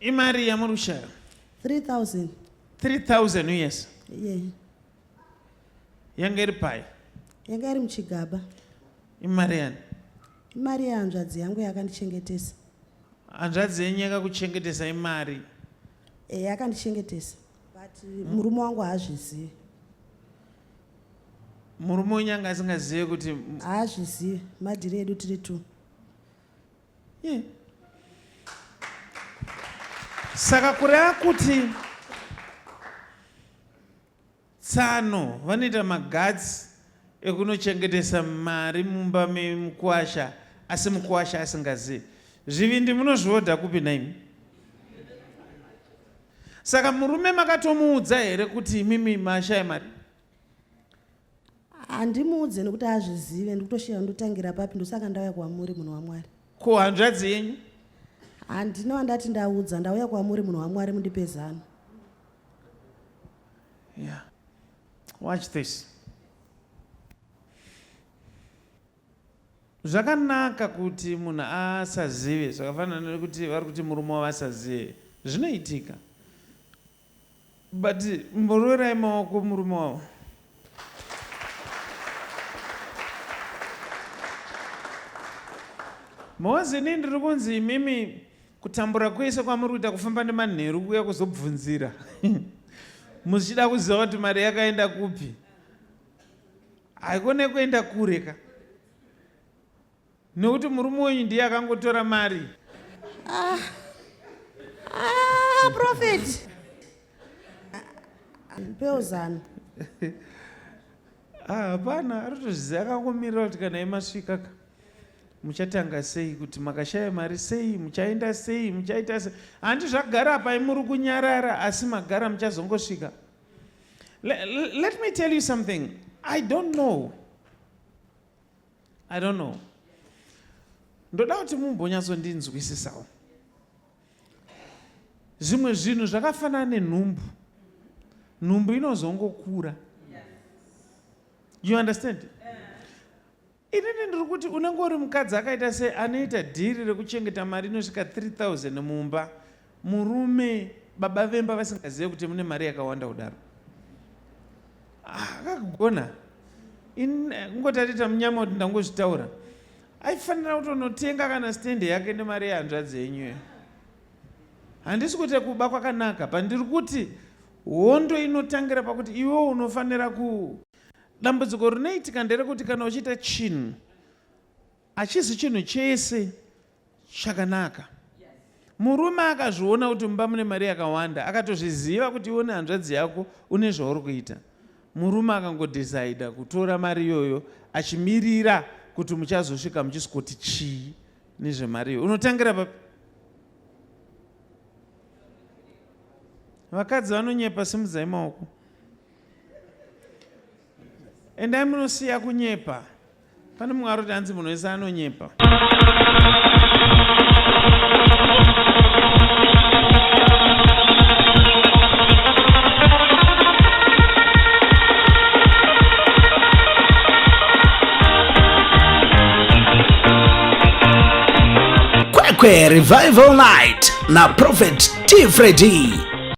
Imari yamuri kushaya? 3000. 3000 uyesa? Yeah. Yanga iri pai? Yanga iri muchigaba. Imari yani? Imari yehanzvadzi yangu yakandichengetesa. Hanzvadzi yenyu yakakuchengetesa imari? Eh, yakandichengetesa. But murume wangu haazvizivi. Murume wenyu anga asingazive kuti haazvizivi madhiri edu tiri two. yeah. saka kureva kuti tsano vanoita magatsi ekunochengetesa mari mumba memukwasha asi mukwasha asingazivi zvivindi munozviodha kupi naimi saka murume makatomuudza here kuti imimi mashaya mari handimuudze nekuti azvizive ndikutosheya ndotangira papi ndosaka ndauya kwamuri munhu wamwari ko hanzvadzi yenyu handina wandati ndaudza ndauya kwamuri munhu wamwari mundipe zano yeah. watch this zvakanaka kuti munhu asazive zvakafanana nekuti vari kuti murume wavasazive zvinoitika But mboroerai maoko murume wavo. Mozi ini ndiri kunzi imimi kutambura kwese kwamuri kuita kufamba nemanheru kuya kuzobvunzira muchida kuziva kuti mari yakaenda kupi haikone kuenda kure ka Nokuti murume wenyu ndiye akangotora mari. Ah. Ah, prophet. Peozano. Ah, hapana, ah, aritoziva akangomirira kuti kana imasvika ka. Muchatanga sei kuti makashaya mari sei, muchaenda sei, muchaita sei. Handi zvagara apa imuri kunyarara asi magara muchazongosvika. Let, let me tell you something. I don't know. i don't know ndoda kuti mumbonyatsondinzwisisawo zvimwe zvinhu zvakafanana nenhumbu nhumbu inozongokura you understand inini ndiri kuti unenge uri mukadzi akaita sei anoita dhiri rekuchengeta mari inosvika 3000 mumba Murume baba vemba vasingazive kuti mune mari yakawanda kudaro ah, akagona kungotarita eh, munyama kuti ndangozvitaura aifanira kutonotenga kana stende yake nemari yehanzvadzi yenyu handisi kuti kuba kwakanaka pandiri kuti hondo inotangira pakuti iwe unofanira ku dambudziko rinoitika nderekuti kana uchiita chinhu hachizi chinhu chese chakanaka murume akazviona kuti mumba mune mari yakawanda akatozviziva kuti iwe nehanzvadzi yako une zvauri kuita murume akangodhisaida kutora mari iyoyo achimirira kuti muchazosvika muchisikoti chii nezvemari iyoyo unotangira papi vakadzi vanonyepa simudzai maoko endai munosiya kunyepa Pane mumwe aroti hanzi munhu wese anonyepa. Kwekwe Revival Night na Prophet T. Freddy.